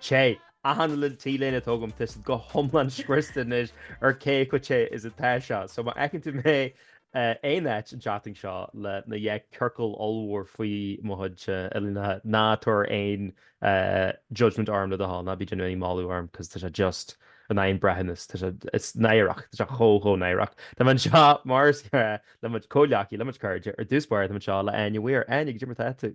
Che, achan le, t-léine atá agam, tá siad go hiomlán scriosta anois ar cé chomh te is atá sé. So má fheiceann tú mé aon áit an tseachtain seo le na dhá chiorcal ollmhór faoi mo chuid uillinneacha, ná tabhair aon judgement orm le do thoil, ná bí ag déanamh aon mhagadh orm, 'cause tá sé just an, an breithiúnas, tá sé, it's náireach, tá sé chomh, chomh náireach. Tá mé anseo, mar is gnáth le mo chuid comhghleacaithe, le mo chuid cairde, ar dtús báire tá mé anseo le Áine Weir. Áine, cad é mar atá tú?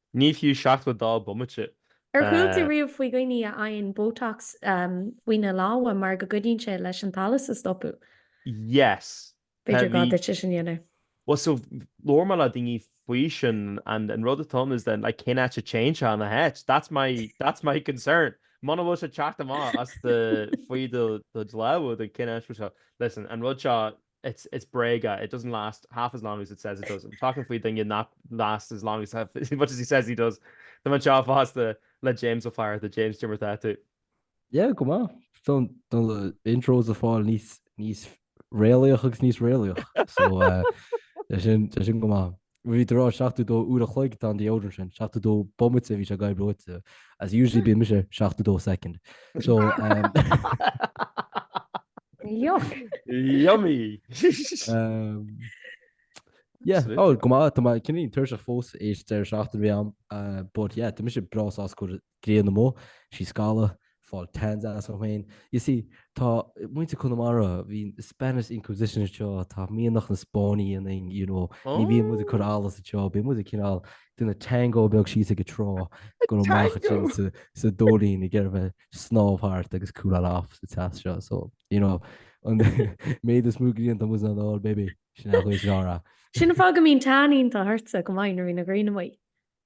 Ní fiú 72 bomaite. Ar chuala tú riamh faoi dhaoine a fhaigheann botox faoina lámha mar go gcuidíonn sé leis an t-allas a stopadh? Yes. B'fhéidir gá duit é sin a dhéanamh. Bhuel so labhair mé le daoine faoi sin and an rud atá ann is that like cén áit a dtéann sé ina áit? That's my that's my concern. Muna bhfuil sé ag teacht amach as do faoi do lámha then cén áit a bhfuil sé? Listen, an rud seo, It's it's bréaga, it doesn't last half as long as it says it does. I'm talking faoi duine nach lasts as long as as much as he says he does. Tá mé anseo fosta le James Ó Flatharta. James, cad é mar atá tú? Yeah, go maith. Tá na, tá na intros ag fáil níos níos réalaíoch agus níos réalaíoch. So eh, tá sin tá sin go maith. Bhí tú ag rá 72 uair an chloig, tá an deodorant sin, 72 bomaite a bhí sé agaibh ráite agus usually bíonn mise 72 second. So Yuck. Yummy! um, yeah, Sweet. oh, go maith, tá cineál tuirseach fós th'éis deireadh seachtaine a bhí a'm, uh, but yeah, tá mise breá sásta go Grian amuigh, sí ag scalladh, ag fáil tans as an ghréin. You see, tá muintir Chonamara, bhí Spanish Inquisition anseo, tá mianach na Spáinneach ionainn, you know, ní bhíonn muid ag cur allas anseo, bíonn muid ag cineál déanamh tango beag thíos ag an trá, ag goil amach ansin sa, sa Dóilín ag iarraidh bheith ag snámh thart agus cooláil off sa teas seo. So, you know, an méid is mó grianta was not all baby, sin é an chuid sin á rá. Sin an fáth go mbíonn tan iontach ortsa go maith nuair a bhíonn an ghrian amuigh.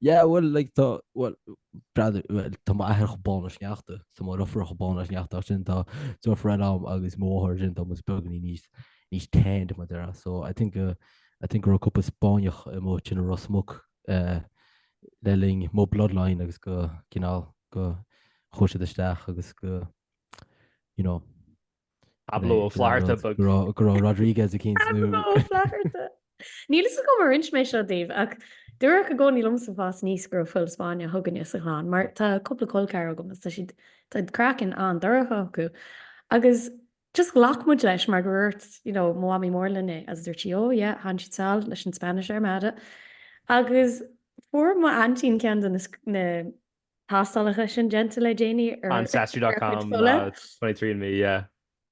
Yeah, bhuel, like, tá, bhuel, breathnaigh, bhuel, tá m'athair chomh bán le sneachta, tá mo dheirfiúr chomh bán le sneachta, ach ansin tá, tá deirfiúr eile a'm agus mo mháthair ansin tá muid beagáinín níos, níos tanned mar a déarfá. So I think, uh, I think go raibh cúpla Spáinneach amuigh ansin i Ros Muc, uh, le linn mo bloodline agus go, cineál, go chuaigh siad isteach agus go, you know, Pablo Ó Flatharta, ba. go raibh, go raibh Rodríguez eicínt nó. Pablo Ó Flatharta. Níl fhios agam ar inis mé seo daoibh ach dúradh i gcónaí liomsa ag fás aníos go raibh fuil Spáinneach againne sa chlann mar tá cúpla col ceathar agam agus tá siad, tá craiceann an-dorcha acu agus just ghlac muid leis mar gur dúirt, you know, mo mhamaí mór linn é agus dúirt sí, oh yeah, tháinig siad sall leis an Spanish Armada agus fuair m'aintín ceann de na, na, tástálacha sin déanta le déanaí ar Ancestry.com, 23andMe, yeah.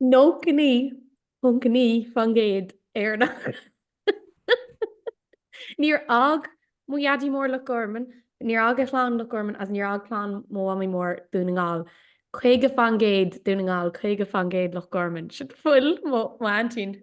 99.9% Éireannach. Níor fhág mo Dhaidí Mór Loch Gorman, níor fhág a chlann Loch Gorman agus níor fhág clann mo Mhamaí Mór Dún na nGall. 50% Dún na nGall, 50% Loch Gorman. Sin fuil mo aintín.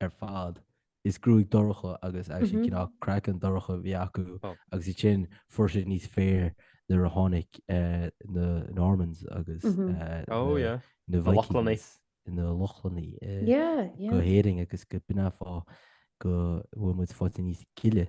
ar fad. Is gruaig dorcha agus agus an cineál craiceann dorcha a bhí acu agus ansin fuair siad níos fair nuair a tháinig na Normans agus na Vikings na Lochlannaigh go hÉirinn agus gurb in é an fáth go bhfuil muid faighte níos gile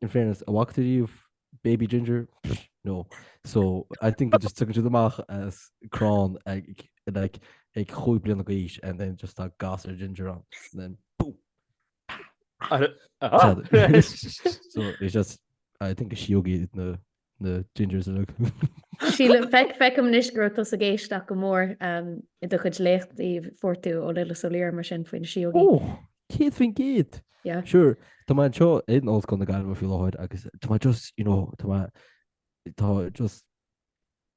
in fairness, an bhfaca tú riamh baby ginger? Psh, no. So, I think they just tagann siad amach as crann ag, like, ag cúig bliana d'aois and then just tá gasúr ginger ann. And then, boom! Ar- Tá- so, it's just, I think is siógaí na na gingers a look. Sílim feic feicim anois go raibh tusa ag éisteacht go mór um, i do chuid léachtaí a fuair tú ó Lillis Ó Laoire mar sin faoi na siógaí. Ó, céad faoin gcéad! Yeah. Sure, tá mé anseo in Ollscoil na Gaillimhe faoi láthair agus tá mé just, you know, tá mé tá just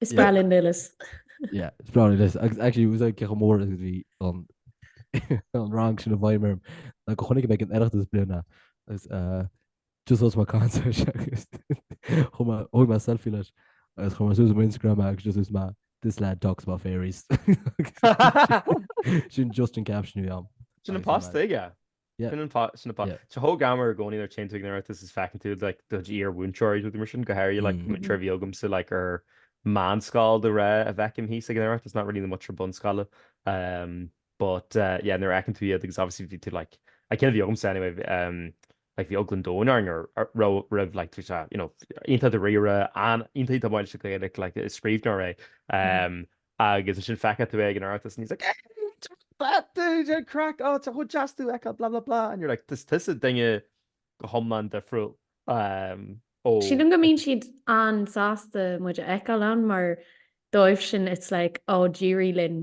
Is breá linn Lillis. Yeah, is breá linn Lillis. Ac- Actually, it was like ceacht mór agus bhí an an rang sin a bhí mé ann. Like go chonaic mé ag an Oireachtas i mbliana agus uh, just os má cancer agus chuaigh mé thóg mé selfie leis agus chuir mé suas ar m'Instagram agus just dúirt mé this lad talks about fairies. sin just an caption a bhí a'm. Sin an post atá aige. Tá sé chomh greannmhar i gcónaí nuair a théann tú ag an Oireachtas is feiceann tú like do iarmhúinteoirí is rudaí mar sin go háirithe like múinteoirí a bhí agamsa like ar meánscoil de ghnáth a fheicim thíos ag an Oireachtas not really na múinteoirí bunscoile umm but eh yeah nuair a fheiceann tú iad agus obviously bhí tú like na cinn a bhí agamsa anyway umm like bhí eagla an domhain orainn roimh roimhe like tá sé you know iontach dáiríre and iontach tógtha leis an Ghaeilge like is scríbhneoir é umm Agus ansin feicfidh tú é ag an Oireachtas and he's like, hey, that dude, yeah, craic, oh, tá sé chomh deas tú a fheiceáil, blah, blah, blah, and you're like, is tusa duine go hiomlán difriúil ó. Sílim go mbíonn siad an-sásta muid a fheiceáil ann mar dóibhsean it's like, oh, d'éirigh linn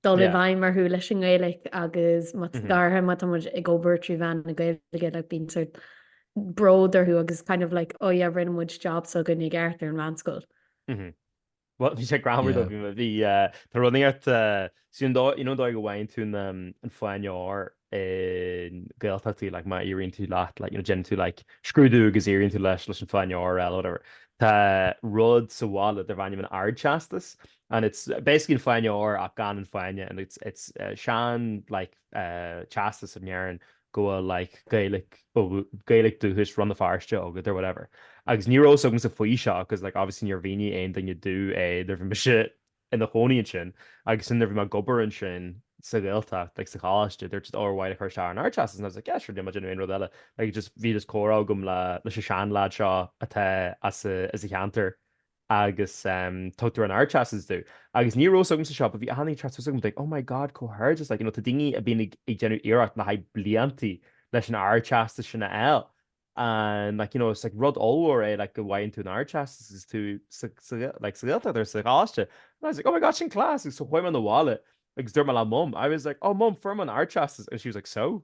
dul i bhfeidhm orthu leis an nGaeilic agus má tá, go háirithe, má tá muid ag obair trí mheán na Gaeilge, like bíonn sort bród orthu agus it's kind of like, oh yeah, rinne muid jab s'againn i gceart ar an mheánscoil. Bhuel, bhí sé greannmhar though, bhí, bhí, tá rud againn, so an dóigh, you know an dóigh a bhfaigheann tú na, an fáinne óir i nGaeltachtaí, like má éiríonn tú leat, like, you know déanann tú like scrúdú agus éiríonn tú leis, leis an fáinne óir or whatever, tá rud sa bhaile darb ainm an ardteastas and it's basically an fáinne óir ach gan an fáinne and it's, it's sean, like, teastas a ndearn go bhfuil like Gaeilge Gaeilge dúchais Rann na Feirste agat or whatever. Agus ní raibh fhios agamsa faoi seo cos like obviously níor mhínigh aon duine domh é nuair bhí mise ina chónaí ansin agus nuair bhí mé ag obair ansin sa Ghaeltacht like sa choláiste they were just oh ar mhaith leat cur isteach ar an Ardteastas and I was like yeah sure níl mé ag déanamh aon rud eile like just bhí just comhrá agam le leis an seanleaid seo atá as a as a cheantar agus tugtar an Ardteastas domh, agus ní raibh fhios agamsa seo, bhí daoine ag teacht suas chugam like, oh my God, comhghairdeas like, you know, tá daoine a bíonn ag ag déanamh iarracht le haghaidh bliantaí leis an Ardteastas sin a fháil, and like, you know, it's like rud ollmhór é like go bhfaigheann tú an Ardteastas is tú sa sa like sa Ghaeltacht or sa gColáiste, and I was like, oh my God, sin class, agus so chuaigh mé 'na bhaile agus dúirt mé le Mum, I was like, oh Mum, fuair mé an Ardteastas, and she was like, so?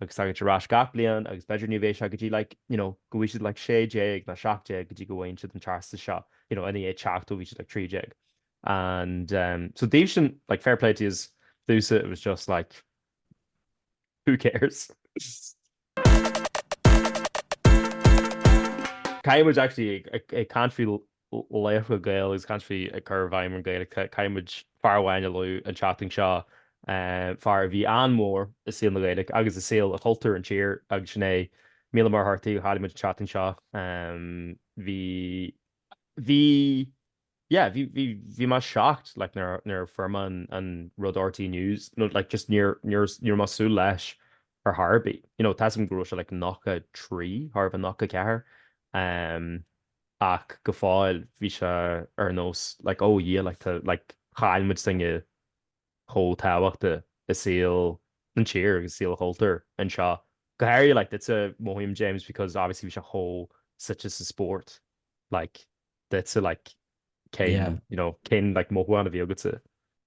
agus tagann siad ar ais gach bliain agus b'fhéidir ní bheidh sé go dtí like you know go bhfuil siad like 16 nó 17 go dtí go bhfaigheann siad an teastas seo you know ina dhiaidh teacht ó bhí siad like 13 and um so dóibhsean like fair play to yous domhsa it was just like who cares. Caithfidh muid actually ag ag ag caint faoi laochra Gael agus caint faoi ag cur i bhfeidhm an Gaeilge. Caithfidh muid fear amháin a lua an tseachtain seo, fear a bhí an-mhór i saol na Gaeilge agus i saol chultúr an tír agus sin é Mícheál Ó Muircheartaigh a chaill muid an tseachtain seo. Bhí, bhí, yeah, bhí, bhí, bhí mé shocked like nuair, nuair fuair mé an rud ó RTÉ News, nó like just níor, níor, ní raibh mé ag súil leis ar chor ar bith. You know, tá 'fhios agam go raibh sé like 93, chóir a bheith 94. ach go fóill bhí sé ar nós like oh yeah like tá like chaill muid duine chomh tábhachtach i saol an tír agus saol an chultúir anseo go háirithe like duitse mothaím James because obviously bhí sé chomh suite sa spórt like duitse like cén yeah you know cén like mothúchán a bhí agatsa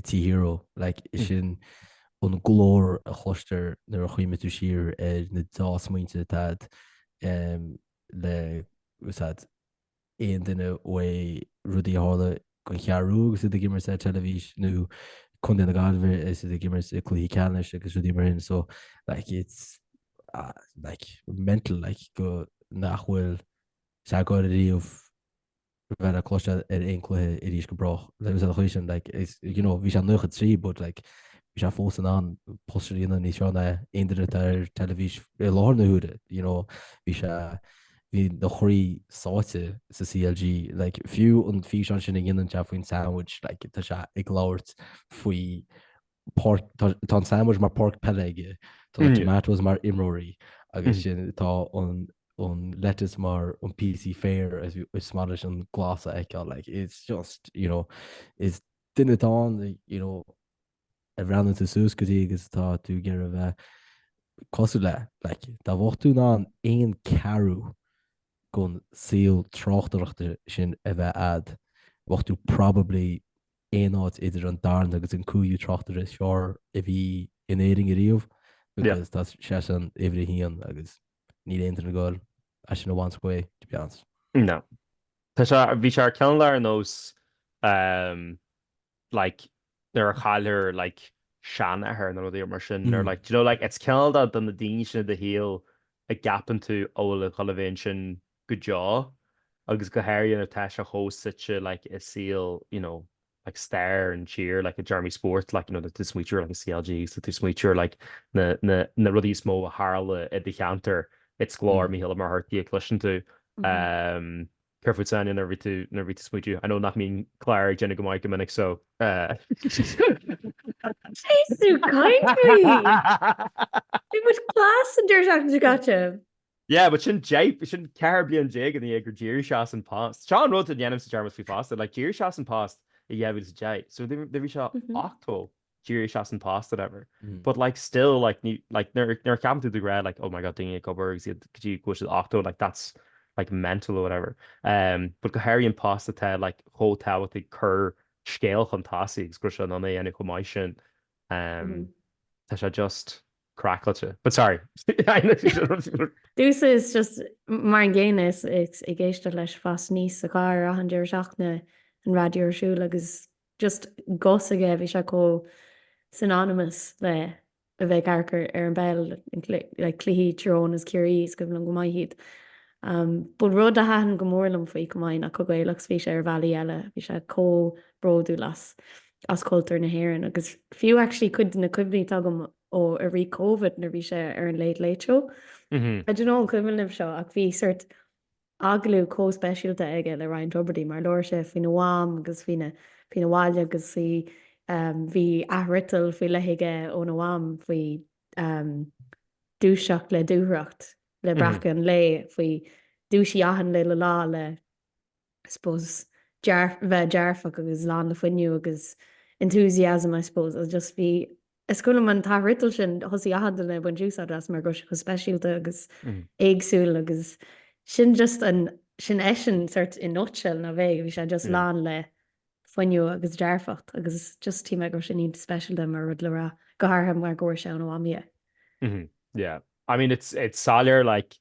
TV hero, like, is sin an glór a chloistear nuair a chuimhníonn tú siar ar na dea-smaointe atá a'd um, like, fhios a'd, aon duine uaidh rudaí a tharla don Cheathrú agus iad ag imirt ar teilifís nó Contae na Gaillimhe is iad ag imirt i cluichí ceannais agus rudaí mar sin so like it's uh, like mental like go nach bhfuil sé ag goil riamh bheith le cloiste ar aon cluiche arís go brách. Like fhios a'd an chaoi sin like is you know bhí sé 93 but like bhí sé fós in ann post a dhéanamh níos fearr ná aon duine atá ar teilifís i láthair na huaire you know bhí sé bhí na chroí sáite sa CLG like fiú an físeán sin a dhéanann sé faoin sandwich like tá sé ag labhairt faoi páirc, tá, tá an sandwich mar páirc peile aige, tá an Mm. tomatoes mar imreoirí, agus Mm. sin tá an, an lettuce mar an píosa féir is, is maith leis an glas a fheiceáil. Like, it's just, you know, is duine atá ann, you know, a bhreathnaíonn tú suas go dtí agus tá tú ag iarraidh a bheith cosúil le. Like, dá mbeadh tú in ann aon cheathrú den saol tráchtaireachta sin a bheith ad, bheadh tú probably aon áit idir an darna agus an cúigiú tráchtaire is fearr a bhí in Éirinn ariamh because tá seisean uimhir a haon agus níl aon duine ag goil é sin a bhaint uaidh, to be honest. No. Tá sé, bhí sé cineál ar nós ehm like nuair a chailltear like seanathair nó rudaí mar sin nuair like do you know like it's ceann de na daoine sin i do shaol a gceapann tú a bhfuil a dhul a bheith ansin go deo, agus go háirithe nuair atá sé chomh suite like i saol you know like stair an tír like i dtéarmaí spóirt like you know tú smaoitiú ar like CLG so tú smaoitiú ar like na na na rudaí is mó a tharla i do cheantar it's glór Mhíchíl Uí Mhuircheartaigh a chloiseann tú um Kerfoot Sanya nuair bhí tú nuair bhí tú smaoitiú I know nach mbíonn Clár ag déanamh go maith go minic so uh, Jeez, you kind It was class and there's actually got him. Yeah, but sin jape, sin ceathair bliain déag ina dhiaidh gur d'éirigh sé as an post. Seo an rud a dhéanaimse dearmad faoi fosta, like d'éirigh sé as an post i 2010, so do bhí sé Mhm. ochtó d'éirigh sé as an post whatever. Mm. But like still like ní like nuair nuair a cheapann tú de ghnáth like oh my god daoine ag obair agus iad go dtí go bhfuil siad ochtó like that's like mental or whatever. Um, but go háirithe an post atá like chomh tábhachtach ag cur scéal chun tosaigh agus go raibh sé in ann é a dhéanamh chomh maith sin. Um, Mhm. tá sé just craiceáilte. But sorry. Domhsa is just mar an gcéanna is ag éisteacht leis ag fás aníos sa charr ar achan deireadh seachtaine an raidió ar siúl agus just guth s'aige bhí sé chomh synonymous le a bheith ag amharc ar an bpeil like cluichí Tyrone is Ciarraí is cuimhin liom go maith iad um but rud a thaitin go mór liom faoi chomh maith ná chomh Gaelach 's a bhí sé ar bhealaí eile bhí sé chomh bródúil as as cultúr na hÉireann agus fiú actually cuid de na cuimhní atá agam ó i rith Covid nuair bhí sé ar an Late Late Show. Mm-hmm. I don't know an cuimhin libh seo ach bhí sort agalú có speisialta aige le Ryan Tubridy mar labhair sé faoina mham agus faoina faoina bhaile agus í um, bhí athfhriotal faoi leith aige óna mham faoi um, dúiseacht le dúthracht le mm-hmm. breacadh an lae faoi dúisí achan le le lá le I suppose, dearf, bheith dearfach agus lán le fuinneamh agus enthusiasm, I suppose, agus just bhí, is cuimhin liom an t-athfhriotal sin, thosaigh achan duine ag baint úsáid as mar go raibh sé chomh speisialta agus éagsúil agus sin just an, sin eisean sort in nutshell nó bhí, bhí sé just lán le fuinneamh agus dearfacht agus just shíl mé go raibh sin iontach speisialta mar rud le rá, go háirithe mar go bhfuair sé óna mhamaí é. Yeah. I mean, it's, it's soiléir like,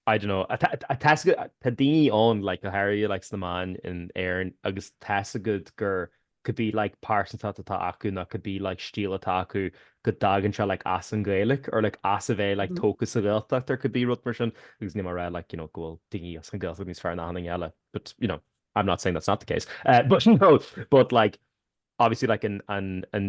I don't know, tá a fhios agat, tá daoine ann like go háirithe like sna meáin in Éirinn agus tá a fhios agat gur could be like pearsantacht atá acu nó could be like stíl atá acu go dtagann sé like as an Ghaeilic or like as a bheith like tógtha sa Ghaeltacht or could be rud mar sin agus níl mé ag rá like you know go bhfuil daoine as an Ghaeltacht níos fearr ná achan duine eile but you know I'm not saying that's not the case uh but no but like obviously like an an an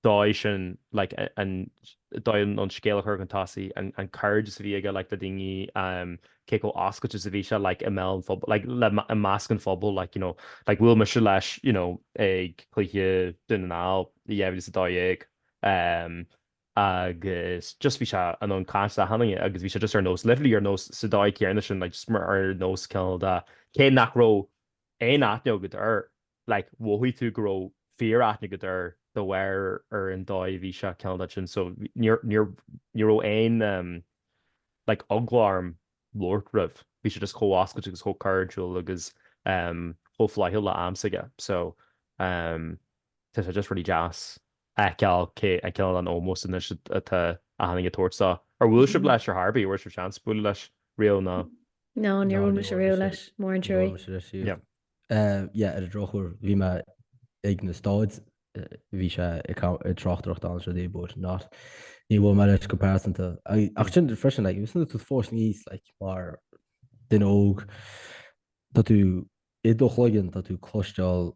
dóigh sin like an dóigh an scéal a chur chun tosaigh, an cairdeas a bhí aige like le daoine, cé chomh oscailte is a bhí sé like i mbeal an phobail like le i measc an phobail like you know like bhuail mise leis you know ag cluiche Dún na nGall i 2012 agus just bhí sé in ann caint le achan duine agus bhí sé just ar nós literally ar nós sa dóigh céanna sin like just mar ar nós cineál de cé nach raibh aon aithne agat air like mhothaigh tú go raibh fíor-aithne agat air de bharr ar an dóigh a bhí sé cineál sin so níor, níor, ní raibh aon em like eagla orm labhairt roimh, bhí sé just chomh oscailte agus chomh cairdiúil agus em chomh flaithiúil le am s'aige so em tá sé just really deas a fheiceáil cé, a fheiceáil an ómós anois atá achan duine ag tabhairt dó. Ar bhuail sibh leis ar chor ar bith, an bhfuair sibh seans bualadh leis riamh nó? No, níor bhuail mise riamh leis, mór an truaí. Yeah. Yeah, ar an drochuair, bhí mé ag na staid, bhí sé ag tráchtaireacht ann seo dé but no, níor bhuail mé leis go pearsanta. Ach sin freisin, like, agus tú ag fás aníos, like, mar duine óg, tá tú i do chloigeann, tá tú ag cloisteáil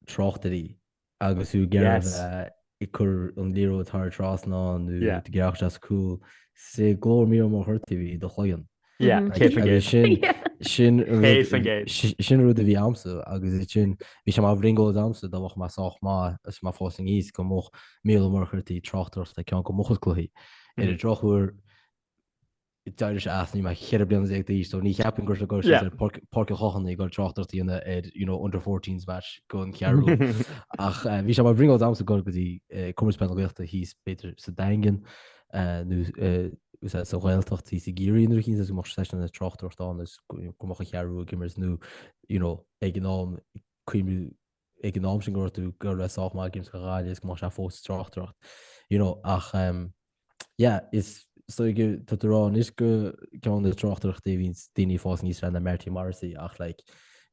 tráchtairí Agus tú ag iarraidh a bheith ag cur an liathróid thar an trasnán nó ag iarracht as cúl sé glór Mícheál Ó Muircheartaigh a bhí i do chloigeann. Sin sin rud a bhí a'msa agus sin bhí sé mar bhrionglóid a'msa dá mbeadh mé sách maith agus mé ag fás aníos go mbeadh Mícheál Ó Muircheartaigh ag tráchtaireacht ar cheann de mo chuid cluichí. Ar an drochuair, D'éirigh sé as nuair a bhí mé 14 bliana d'aois so ní cheapfainn go raibh sé go raibh sé ag Páirc an Chathánaigh ag tráchtaireacht ar you know under 14s match don Cheathrú Rua ach bhí sé mar bhrionglóid a'msa a ghoil go dtí Comórtas Peile na Gaeltachta thíos b'fhéidir sa Daingean nó sa Ghaeltacht thíos i gCiarraí nó rud éicint is go mbeadh sé seisean ag tráchtaireacht ann is go mbeadh an Cheathrú Rua ag imirt nó you know ag an am cuimriú ag an am sin go raibh tú go raibh sách maith ag imirt do Ghaillimh agus go mbeadh sé fós ag tráchtaireacht. You know, ach um, yeah, is dócha tá tú ag rá anois go ceann na tráchtaireachtaí a bhíonn daoine ag fás aníos fearacht na Marty Morrissey ach like,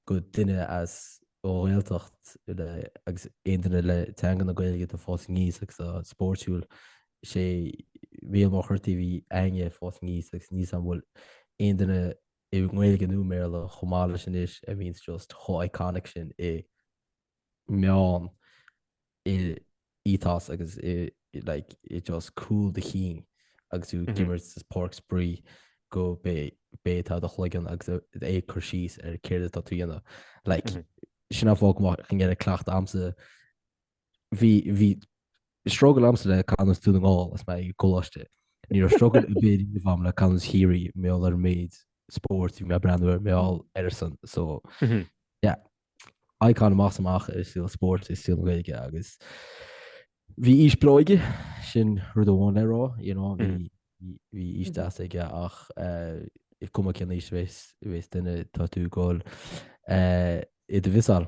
go duine as ó Ghaeltacht le, agus aon duine le teanga na Gaeilge atá ag fás aníos agus uh, spóirtiúil sé Mícheál Ó Muircheartaigh a bhí againne ag fás aníos agus níl a fhios agam an bhfuil aon duine i nGaeilge nó i mBéarla, chomh maith leis anois a bhíonns just chomh iconic sin i meon, i ethos agus i like i just cúl do chinn agus tú ag imirt sa páirc spraoi gurb é, b'é atá i do chloigeann agus é ag cur síos ar céard atá tú a dhéanamh. Like sin an fáth go raibh cleachtadh agamsa bhí, bhí struggle agamsa le canúint Dhún na nGall is mé ag coláiste. Ní raibh struggle ar bith riamh agam le canúint Chiarraí, mar gheall ar an méid spóirt a bhí mé ag breathnú air, mar gheall airsean. So, yeah, icon amach is amach i saol spóirt, i saol na Gaeilge agus bhí aois bhreá aige, sin rud amháin le rá, you know, bhí, bhí, bhí aois deas aige ach eh, cuma cén aois a bhéas, a bhéas duine tá tú ag dul eh, iad a mhiseáil.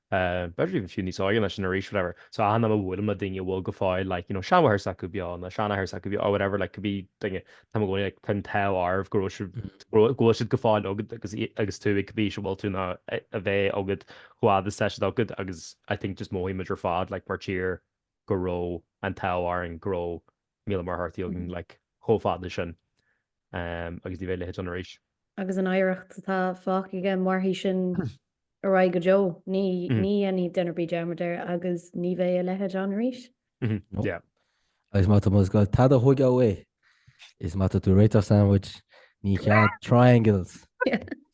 b'fhéidir even fiú níos óige ná sin arís whatever so achan am a bhuailim le daoine a bhfuil go fóill like you know seanmháthair s'acu beo nó seanathair s'acu beo or whatever like could be duine táim i gcónaí like tá an t-ádh oraibh go, go bhfuil siad go fóill agad agus i- agus tú chomh buíoch go bhfuil tú in ann a a bheith agad chomh fada is tá siad agad agus I think just mothaímid ar fad like mar tír go raibh an t-ádh orainn go raibh Mícheál Ó Muircheartaigh againn, like, chomh fada sin agus ní bheidh a leithéid ann arís. Agus an oidhreacht atá fágtha aige, mairfidh sin ar aghaidh go deo. Ní dhéanfaidh duine ar bith dearmad air agus ní bheidh a leithéid ann arís. Yeah. Agus má tá muid ag dul tada a thógáil uaidh, is má tá tú ag réiteach sandwich, níl cead triangles,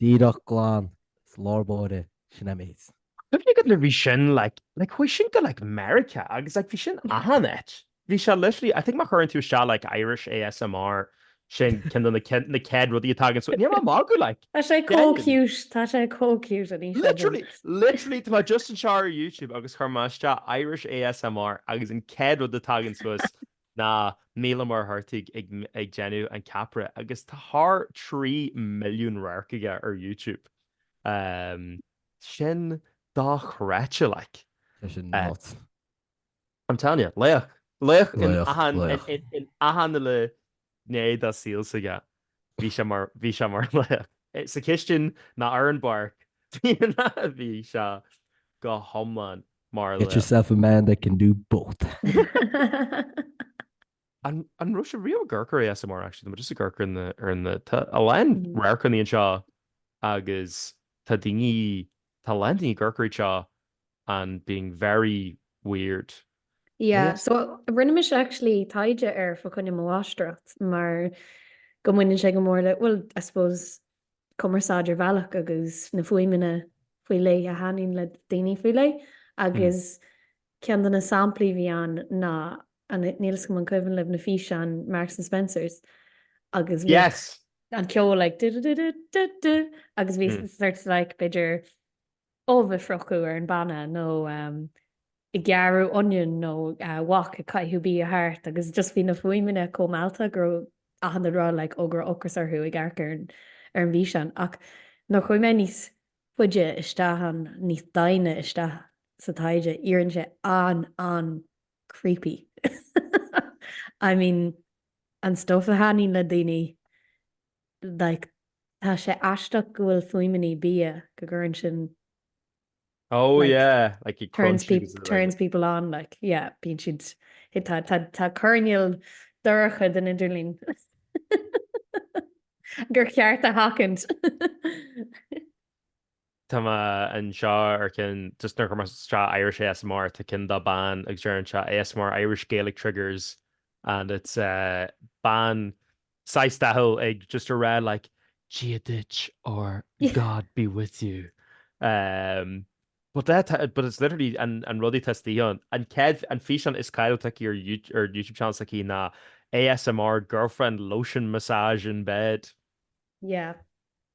díreach glan, síos lár báire. Sin am is. Cuimhnigh go bhfuil sin like like chuaigh sin go like Meiriceá agus like bhí sin achan áit. Bhí sé literally I think má chuireann tú isteach like Irish ASMR sin ceann de na chéad, na chéad rudaí a thagann so níl mé ag magadh like. Tá sé chomh Genuinely. cute, tá sé chomh cute an físeán sin. Literally literally tá mé just anseo ar YouTube agus chuir mé isteach Irish ASMR agus an chéad rud a thagann suas ná Mícheál Ó Muircheartaigh ag ag déanamh an ceapaire agus tá thar trí milliún radharc aige ar YouTube. Sin dochreidte like. Tá sin nuts. I'm telling you, laoch. Laoch in achan, in achan uile gné dá saol s'aige. Bhí sé mar bhí sé mar laoch. sa chistin ná ar an bpáirc. Bhí sé go hiomlán mar laoch. Get yourself a man that can do both. An an raibh sibh riamh ag amharc ar ASMR actually tá just ag amharc ar na ar na tá a lán mm. radharcanna anseo agus tá daoine tá a lán daoine ag amharc air seo and being very weird. Yeah, so rinne mise actually taighde air fa choinne mo mháistreacht mar go mbaineann sé go mór le, well, I suppose cumarsáid ar bhealach agus na fuaimeanna faoi leith a thaitníonn le daoine faoi leith agus ceann de na samplaí a bhí ann ná, and níl a fhios agam an cuimhin libh na físeáin Marks and Spencers agus bhí Yes! an ceol like du-du-du-du-du-du agus bhí sort of like b'fhéidir ubh a friochadh ar an bpanna nó ag gearradh onion nó wok ag caitheadh bia thart agus just bhí na fuaimeanna chomh meallta go raibh achan duine ag rá like oh go raibh ocras orthu ag amharc ar ar an bhfíseán ach nuair chuaigh mé níos faide isteach ann níos doimhne isteach sa taighde éiríonn sé an-an-creepy I mean an stuff a thaitníonn le daoine. like tá sé aisteach go bhfuil fuaimeannaí bia go gcuireann sin Oh like, yeah like it turns people like turns people on like yeah bíonn siad tá tá tá coirnéal dorcha den idirlín gur cheart a sheachaint Tá mé anseo ar cionn just nuair a chuir mé isteach Irish ASMR tá cionn do bean agus deireann sé ASMR Irish Gaelic Triggers and it's eh bean saghas dathúil ag just a rá like Dia duit or God be with you ehm but that eh, but it's literally an an rud a dteastaíonn. An céad físeán is cáiliúil aici ar YouTube channel s'aici ná ASMR girlfriend lotion massage in bed. Yeah.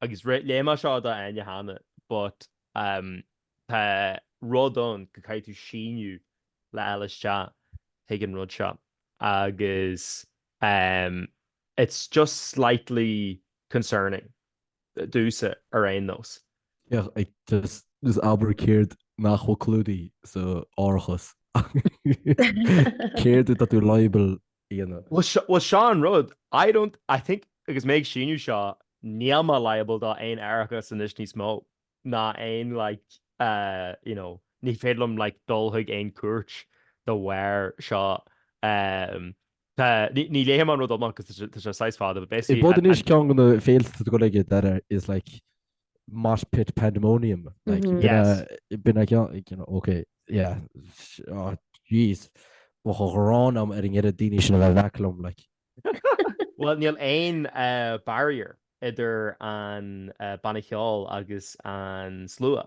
Agus léigh mé as seo do Áine cheana, but um tá rud ann go gcaithfidh tú síniú le fháil isteach chuig an rud seo agus um it's just slightly concerning domsa ar aon nós. Yeah just just abair céard nach bhfuil clúdaithe sa árachas. Céard atá tú liable dhéanamh. Bhuel seo an rud, I don't, I think agus mé ag síniú seo, níl mé liable do aon árachas anois níos mó ná aon like uh you know ní féidir liom like dul chuig aon cúirt de bharr seo um, ní léifidh mé an rud amach cos tá sé sách fada, but basically rud ann is ceann de na féilte go léir is like mosh pit pandemonium. Like, mm-hmm. yes. Been like, you know, okay, yeah. Oh, jeez. Mo go ghrán am ar an gcead daoine sin a bheith bheclum, like. well, níl aon uh, barrier idir an uh, banna cheol agus an slua.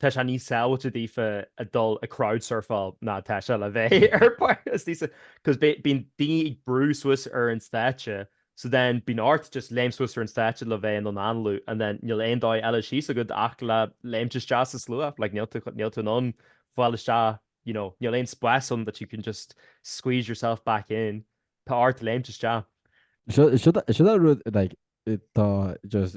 Tá sé níos sábháilte daofa a dhul ag crowdsurfáil ná tá sé le bheith ar cos bíonn daoine ag brú suas ar an stáitse so then bíonn ort just léim suas ar an stáitse le bheith in ann análú and then níl aon dóigh eile síos agat ach le léimt isteach sa slua, like níl tú, níl tú in ann fáil isteach you know níl aon spás ann that you can just squeeze yourself back in, tá ort léimt isteach. Sin an rud like tá just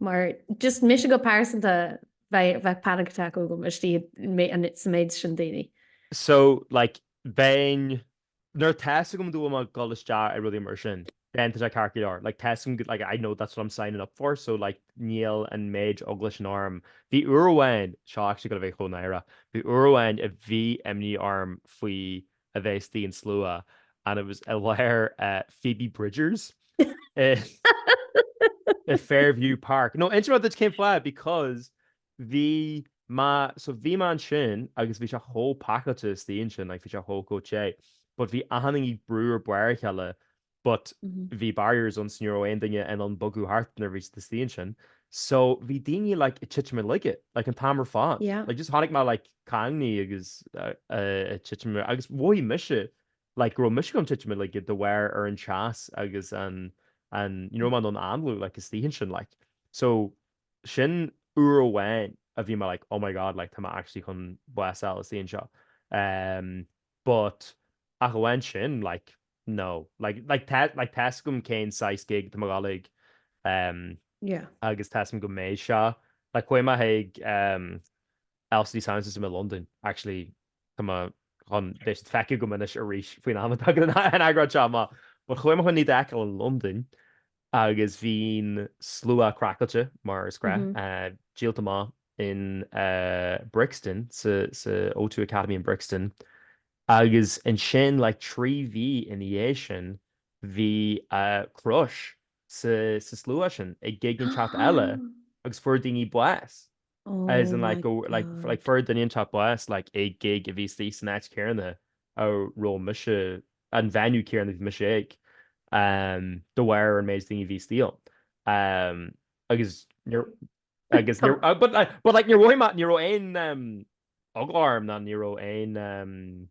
Mar just mise go pearsanta, bheadh panic attack agam istigh sa méid sin daoine. So like bheinn, nuair atá a fhios agam go bhfuil mé ag dul isteach ar rudaí mar sin, bheinn tá sé ceart go leor, like tá a fhios agam like I know that's what I'm signing up for so like níl an méid eagla sin orm. Bhí uair amháin, seo actually chomh náireach, bhí uair amháin a bhí imní orm faoi a bheith istigh i slua and it was i lár Phoebe Bridgers i Fairview Park. No, inseoidh mé duit cén fáth because bhí mé, so bhí mé ansin agus bhí sé chomh pacáilte istigh ansin, like bhí sé chomh te, but bhí achan duine brúite ar bharr a chéile but bhí barriers ann so ní raibh aon duine in ann bogadh thart nuair a bhí siad istigh ansin so bhí daoine like ag titim i laige like an t-am ar fad Yeah. like just tháinig mé like caingne agus ag titim ar agus mhothaigh mise like go raibh mise chun titim i laige de bharr an teas agus an an you know ní raibh mé in ann análú like istigh ansin like so sin uair amháin a bhí mé like oh my god like tá mé actually chun bás a fháil istigh anseo. But, ach amháin sin, like, no, like, like, tá, like, tá 'fhios agam cén saghas gig atá mé ag dul chuige ehm Yeah. agus tá 'fhios agam go mbeidh seo, like, chuaigh mé chuig ehm LCD Sound System i Londain, actually, tá mé chun iad a fheiceáil gan mhoill arís faoin am atá an eipeasóid seo amach, but chuaigh mé chun iad a fheiceáil i Londain agus bhí'n slua craiceáilte mar is gnáth díolta amach in Brixton sa sa O2 Academy in Brixton agus ansin like trí mhí ina dhiaidh sin bhí crush sa sa slua sin ag gig inteacht eile agus fuair daoine bás. as in like go like like for the Indian top boss like a gig if he's these snatch Kieran a ro misha and venue Kieran if misha um the wire and maids thing if he's deal um I guess you're I guess you're uh, but like but like you're roy mat you're roy in um oglarm not you're roy in um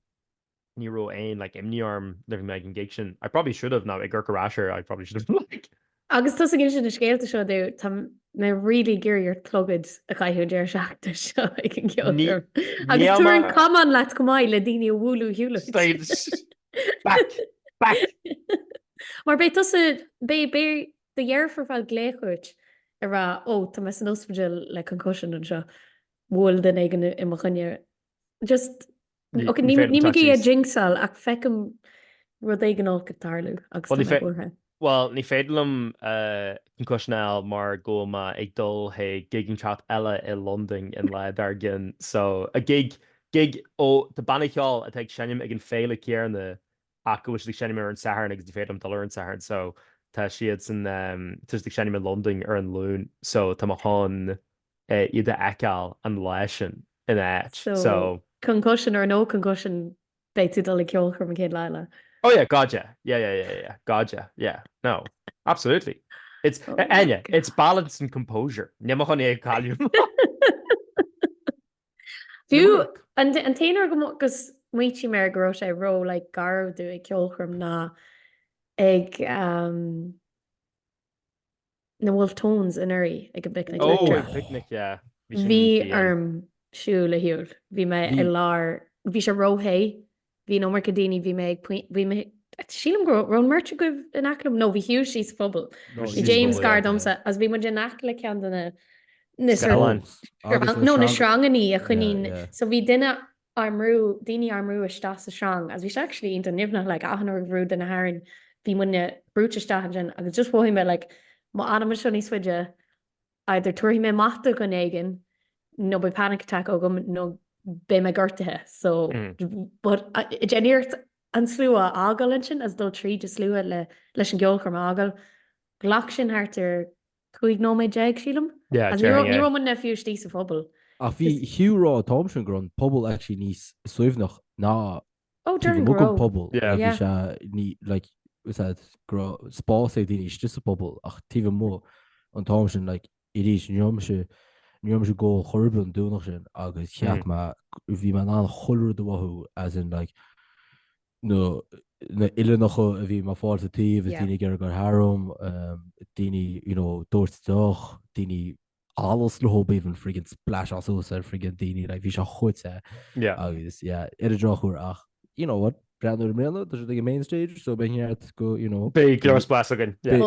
ní raibh aon like imní orm nuair a bhí mé ag an gig sin. I probably should have now ag breathnú ar ais air I probably should have like. Agus tusa ag insint na scéalta seo dom, tá mé really ag iarraidh ort clogad a chaitheamh an deireadh seachtaine seo ag an gceolchoirm. Agus tabhair an camán leat chomh maith le daoine a bhualadh shiúlait. Back! Back! Mar beidh tusa, beidh, beidh do dheirfiúr ag fáil glaoch uait ag rá, 'Ó, tá mé san ospidéal le concussion anseo, bhuail duine éigin i mo choinne Just níl mé ag jinxáil ach feicim rud éigin olc ag tarlú agus ní féidir. Bhuel, ní féidir liom concussion a fháil mar go bhfuil mé ag dul chuig gig inteacht eile i Londain an lá dár gcionn. So, a gig, gig ó, de bhanna ceoil atá ag seinm ag an fhéile chéanna ach go bhfuil siad ag seinm ar an Satharn agus ní féidir liom dul ar an Satharn. So, tá siad san, tá siad ag seinm i Londain ar an Luan. So, tá mé chun iad a fheiceáil an lá sin ina áit. So. Concussion or no concussion, beidh tú ag dul ag ceolchoirm an chéad lá eile. Oh yeah, God yeah. Yeah, yeah, yeah, yeah. God yeah. Yeah. No. Absolutely. It's, Áine, it's balance and composure. Níl mé chun é a chailleadh. Fiú, an t-aon uair go, gur smaointigh mé air go raibh sé ró, like, garbh domh ag ceolchoirm ná ag, na Wolfe Tones anuraidh ag an bPicnic Leictreach. Oh, picnic, yeah. Bhí sin Bhí inti, yeah. orm siúl ar shiúl. Bhí mé Bhí. i lár, bhí sé róthe, bhí an iomarca daoine, bhí mé ag puin-, bhí mé, sílim go raibh, raibh an mbeirt agaibh in aice liom? No, bhí Hugh istigh sa phuball. No, Bhí síos James phuball, gar yeah. domsa agus bhí muid in aice le ceann de na, na sort, Scannáin. Agus na no, na sreang- sreangannaí a choinníonn, yeah, yeah. so bhí duine ár mbrú, daoine ár mbrú isteach sa sreang agus bhí sé actually iontach nimhneach like achan uair a bhrúigh duine tharainn bhí muidne brúite isteach ansin agus just mhothaigh mé like má fhanaim anseo níos faide either tabharfaidh mé amach do dhuine éigin nó beidh panic attack agam nó beidh mé gortaithe so but ag déanamh iarracht an slua a fhágáil ansin is dul tríd an slua le leis an gceolchoirm a fhágáil ghlac sin thart ar 15 nóiméad, sílim. Yeah, Ní raibh, ní raibh muidne fiú istigh sa phuball. Ach bhí Hugh ag rá an t-am sin go raibh an puball actually níos suaimhneach ná Oh, taobh déarfainn go amuigh den raibh. phuball. Yeah. Bhí sé ní, like, what's that, go raibh spás ag daoine istigh sa phuball ach taobh amuigh an t-am sin, like, arís ní raibh mise, ní raibh mise ag ól ar chor ar bith an Domhnach sin agus cheap mé, bhí mé in ann chuile rud a mhothú as in, like, nó na h-uillinneacha a bhí mé ag fáil sa taobh is daoine ag iarraidh gabháil tharam, daoine you know ag doirteadh deoch, daoine allas le hÓ Baoibhinn friggin splash as suas ar friggin daoine like bhí sé chuitte agus yeah ar an drochuair ach you know what breathnú ar i mbliana tá siad ag an main stage so beidh neart go you know beidh go leor spás againn yeah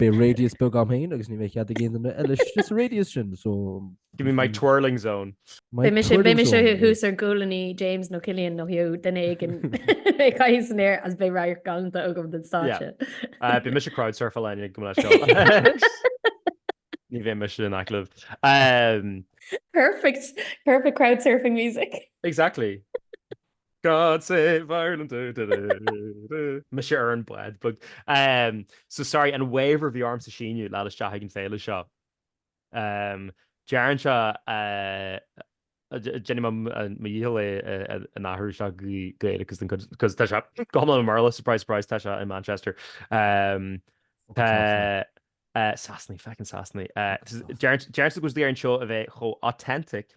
beidh radius beag agam féin agus ní bheidh cead ag aon duine eile istigh sa radius sin so Give me my twirling zone. Beidh mise thuas ar ghualainní James nó Cillian nó Hugh, duine éigin ag caitheamh san aer agus beidh radharc galánta agam den stáitse. Beidh mise ag crowdsurfáil linn ag go mbeidh seo ann. Ní bheidh mise in aice libh. Perfect! Perfect crowdsurfing music! Exactly! God save Ireland! Mise ar an bpod. So sorry, an waiver a bhí ormsa síniú le fáil isteach ag an féile seo. Deireann seo, déanfaidh mé mo dhícheall é a athrú isteach go Gaeilge because tá sé go hiomlán i mBéarla, surprise surprise tá sé i Manchester. Tá Sasanaí, feckin Sasanaí. Deireann sé go dtí ar an seó a bheith chomh authentic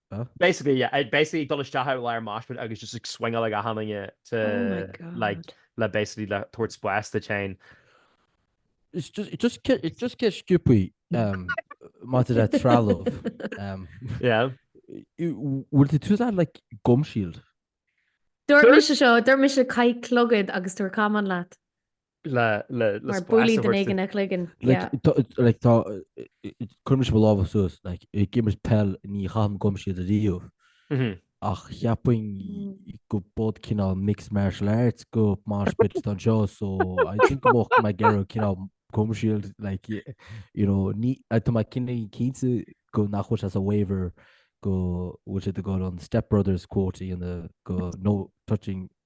Basically yeah ag basically ag dul isteach i lár mosh pit agus just ag swingeáil ag achan duine to Oh my like god. le basically le tabhairt spás duit féin. It's just, it just, get, it just gets stupid um, maidir le trealamh. Um, Yeah. bhfuil tú ag tabhairt leat like, gum shield? Dúirt Dúirt- mise seo, dúirt mise caith clogad agus tabhair camán leat. Mar buailfidh duine éigin do chloigeann. Cuirfidh mise mo lámha suas, ag imirt peil ní chaithim gum shield ariamh ach cheapfainn go bpod cineál mixed martial arts go mosh pit anseo so I think go mbeadh mé ag iarraidh cineál gum shield like you know ní tá mé cinnte cinnte go nach bhfuil sé sa waiver go bhfuil siad ag gabháil an Step Brothers quote a dhéanamh go no touching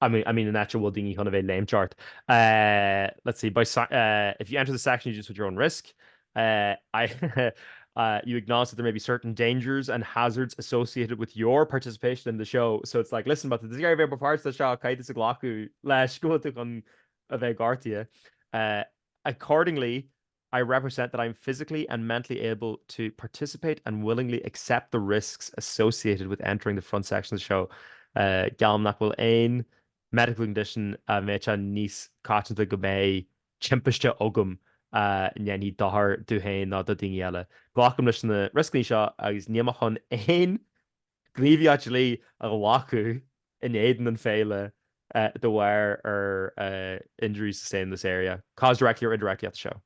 I mean, I mean an áit a bhfuil daoine chun a bheith ag léimt thart. Let's see, by sa- if you enter the section you do so at your own risk. You acknowledge that there may be certain dangers and hazards associated with your participation in the show. So it's like, listen, má tá tú ag iarraidh bheith mar pháirt den seó, caithfidh tusa glacadh leis go bhfuil tú chun a bheith gortaithe. Accordingly, I represent that I am physically and mentally able to participate and willingly accept the risks associated with entering the front section of the show Geallaim nach bhfuil aon medical condition a mbeadh sé níos coitianta go mbeidh timpiste agam a ndéanfaidh dochar dom féin nó do dhaoine eile. Glacaim leis na rioscaí seo agus níl mé chun aon gníomhaíocht dlí a ghlacadh in éadan an Féile de bharr ar injuries sustained in this area caused directly or indirectly at the show.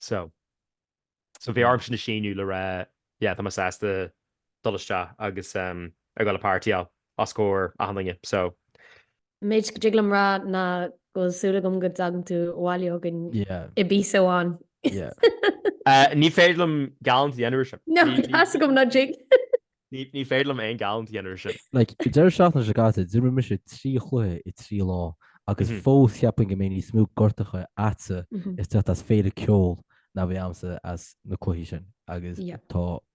So so bhí orm sin a shíniú le rá yeah tá mé sásta dul isteach agus a ghabháil ag partyáil os comhair achan duine so méid go dtig liom rá ná go bhfuil súil agam go dtagann tú abhaile againn i bpíosa amháin. Ní féidir liom geallúint a dhéanamh air sin. No, tá a fhios agam nach dtig. Ní féidir liom aon gheallúint a dhéanamh air sin. Like, go deireadh seachtaine seo caite, d'imir mise trí chluiche i trí lá agus fós cheapfainn go mbeidh níos mó gortacha agatsa ag teacht as féile ceoil ná a bhí agamsa as na cluichí sin agus tá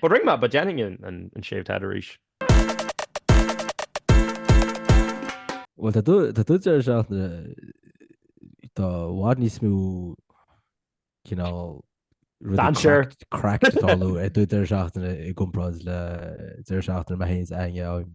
But rinne mé, but dhéanfainn an shaved head arís. Bhuel tá do dheireadh seachtaine tá i bhfad níos mó cineál Dainséir. craic ag tarlú ag do dheireadh seachtaine i gcomparáid le deireadh seachtaine a mbeadh aon fhios againn.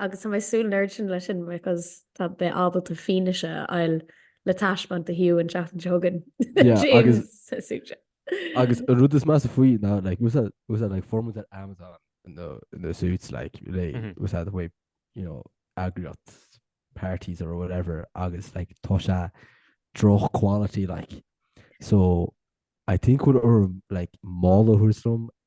agus tá mé ag súil nár sin le sin because tá mé ábalta fianaise a fháil le taispeáint do Hugh an seachtain seo chugainn. Yeah, James, agus- sa suit. Agus an rud is measa faoi ná, like, was that, was that, like, fuair mé iad ar Amazon in the, in the suits, like, like, Mhm. was that the way, you know, eagraíocht parties or whatever, agus, like, tá sé droch quality, like. So, I think what or, like, mála thuairism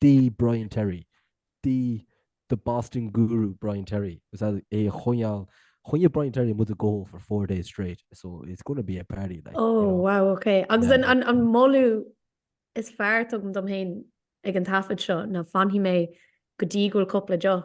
The Brian Terry, the The Boston Guru Brian Terry, agus é a choinneáil, choinnigh Brian Terry muid ag gabháil for four days straight, so it's going to be a party like. Oh, wow, ok. Agus an moladh is fearr a tugaim dom féin ag an taifead seo ná fanfaidh mé go dtí go bhfuil cúpla deoch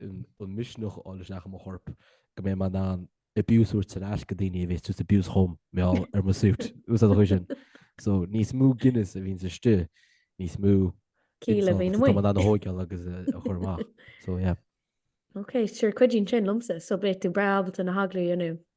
an misneach a fháil isteach i mo chorp go mbeidh mé in ann abuse a thabhairt ar ais go daoine a bheas ag tabhairt abuse chugam mar gheall ar mo suit. Úsáid a chuid sin. So níos mó Guinness a bhíonns istigh, níos mó ciall a bhíonn amuigh. Tá mé in ann a thóigheáil agus a chur amach. So yeah. Ok, sure cuidíonn sin liomsa. So beidh tú breá ábalta na heaglaí a dhéanamh.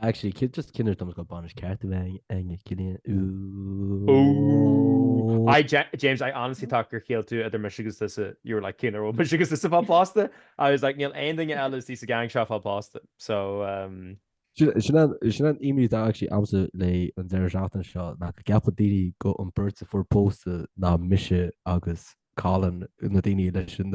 Actually, cén just cén uair atá muid ag gabháil bainis ceart a bheith againn. Ooh. Ooh. I, Ja- James, I honestly thought gur chiallaigh tú idir mise agus tusa. You were like, cén uair a bhfuil mise agus tusa ag fáil pósta? I was like, níl aon duine eile istigh sa gang seo ag fáil pósta. So, um, Sin sin an sin an imní atá actually agamsa le an deireadh seachtaine seo nach gceapfaidh daoine go an beirt a fuair pósta ná mise agus Colin na daoine leis an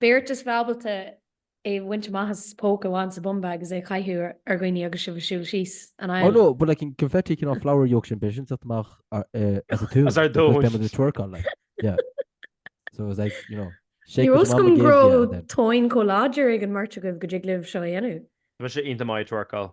Beirt a bheas ábalta é a bhaint amach as póca a bhaint sa bumbag is é a chaitheamh ar dhaoine agus sibh ag siúl síos an aisle. Oh no, but like an confetti cineál flower yokes and bits and stuff amach as a tóin because they were doing twerk on like yeah so it was like you know shake what your mama gave you. Ní raibh a fhios agam go raibh tóin chomh láidir ag an mbeirt agaibh go dtig libh seo a dhéanamh. Tá sé iontach maith ag twerkáil.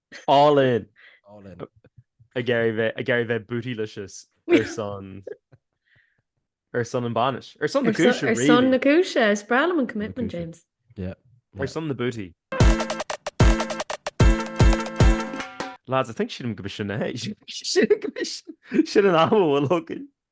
All in! All in. Ag iarraidh a bheith, ag iarraidh a bheith bootylicious ar son, ar son an bainis. Ar son na cúise, really. Ar son na cúise. Is breá liom an commitment, James. Yeah. Ar son na booty. Lads, I think sílim go b'shin é. Sílim go b'shin an am a bhfuil againn.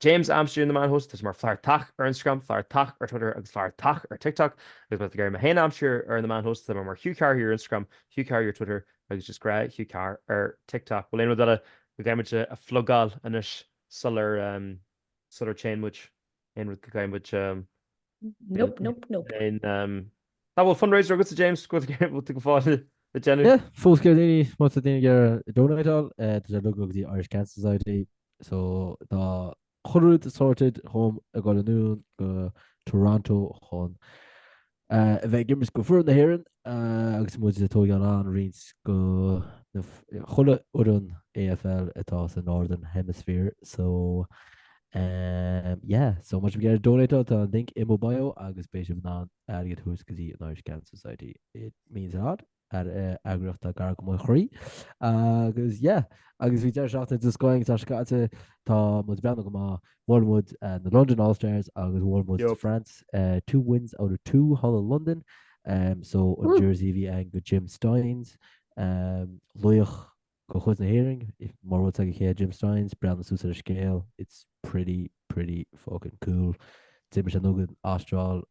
James a aimsiú ar na meáin shóisialta, tá sé mar Flathartach ar Instagram, Flathartach ar Twitter agus Flathartach ar TikTok agus má tá tú ag iarraidh mé fhéin a aimsiú ar na meáin shóisialta, tá mé mar Hugh Carr Here ar Instagram, Hugh Carr Here ar Twitter agus just gnáth Hugh Carr ar TikTok. Bhuel aon rud eile go gcaithfidh muid a phlugáil anois sular téann muid, aon rud go gcaithfidh muid a Nope, nope, nope. An bhfuil fundraiser agatsa James go bhfuil tú go fóill ag déanamh? Yeah, fós go raibh daoine, má tá daoine ag iarraidh donateáil, eh, tá sé uilig ag dul go dtí Irish Cancer Society, so tá chuile rud sorted chugam ag dul anonn go Toronto chun eh, a bheith ag imirt go foireann na hÉireann eh, agus muid ag tóigeáil on roinnt go na, chuile fhoireann AFL atá sa Northern Hemisphere, so Umm yeah, so má tá sibh ag iarraidh donateáil, tá an link in mo bio agus beidh sibh in ann airgead thuas go dtí an Irish Cancer Society. It means a lot. Ar eagraíocht atá gar do mo chroí. Agus yeah, agus bhí deireadh seachtaine den scoth agus tá sé caite, tá muid ag breathnú go maith. Bhuail muid eh, na London All Stars agus bhuail muid Yup. France eh, two wins out of two thall i Londain. Um, so an Woo. jersey bhí ann do Jim Stynes, um, laoch De chuid na hÉireann, mura bhfuil a fhios agat cé hé Jim Stynes, breathnaigh suas ar an scéal, it's pretty, pretty fucking cool. D'imigh sé anonn chuig an Astráil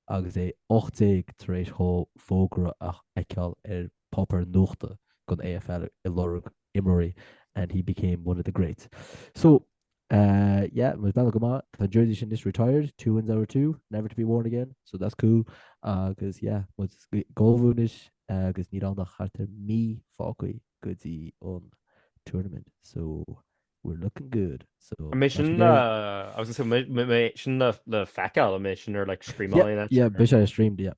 agus é 18 tar éis dhó fógra a fheiceáil ar pháipéar nuachta don AFL ag lorg imreoirí and he became one of the greats. So, yeah was bealach go maith tá jersey sin anois retired two wins out of two never to be worn again so that's cool agus yeah muid gabhadh anois agus níl ann ach thart ar mí fágtha go dtí an tournament so we're looking good so mé sin le I was gonna say mé sin le feiceáil mé sin ar like streamáil yeah yeah mé sin ar stream yeah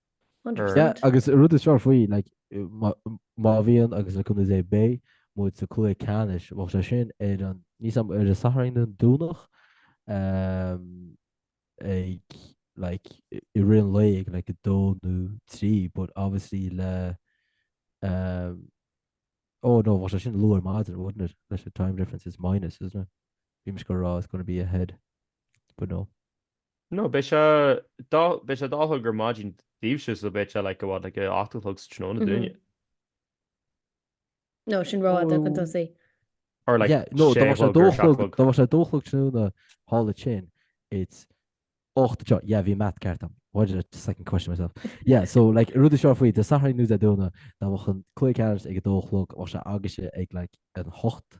Understand. Agus an rud is fearr faoi, má bhíonn, agus le cúnamh Dé, beidh muid sa chluiche ceannais, bheadh sé sin ar an, níl a fhios agam, ar an Satharn nó an Domhnach, ag, like, i rith an lae, ag, like, 2 nó 3, but obviously le, oh no, bheadh sé sin luath ar maidin, wouldn't it, leis an time difference, it's minus, isn't it? Bhí mise ag rá it's going to be ahead, but no. No, beidh sé dó, beidh sé dó a chlog ar maidin daoibhse so beidh sé like what like ocht a chlog sa tráthnóna Mhm. dúinne. No, sin ró fhada chun tosaigh. Or like Yeah, no, sé dá bhfuil sé chlog dó ar sé chlog, chlog. dá mbeadh sé dó a chlog tráthnóna, thall ansin, it's ocht anseo. Yeah, bhí an math ceart agam. Why did I just second question myself? Yeah, so like, an rud is fearr faoi, Dé Sathairn nó Dé Domhnaigh, dá mbeadh an cluiche ceannais ag a dó a chlog, bheadh sé agaibhse ag like an hocht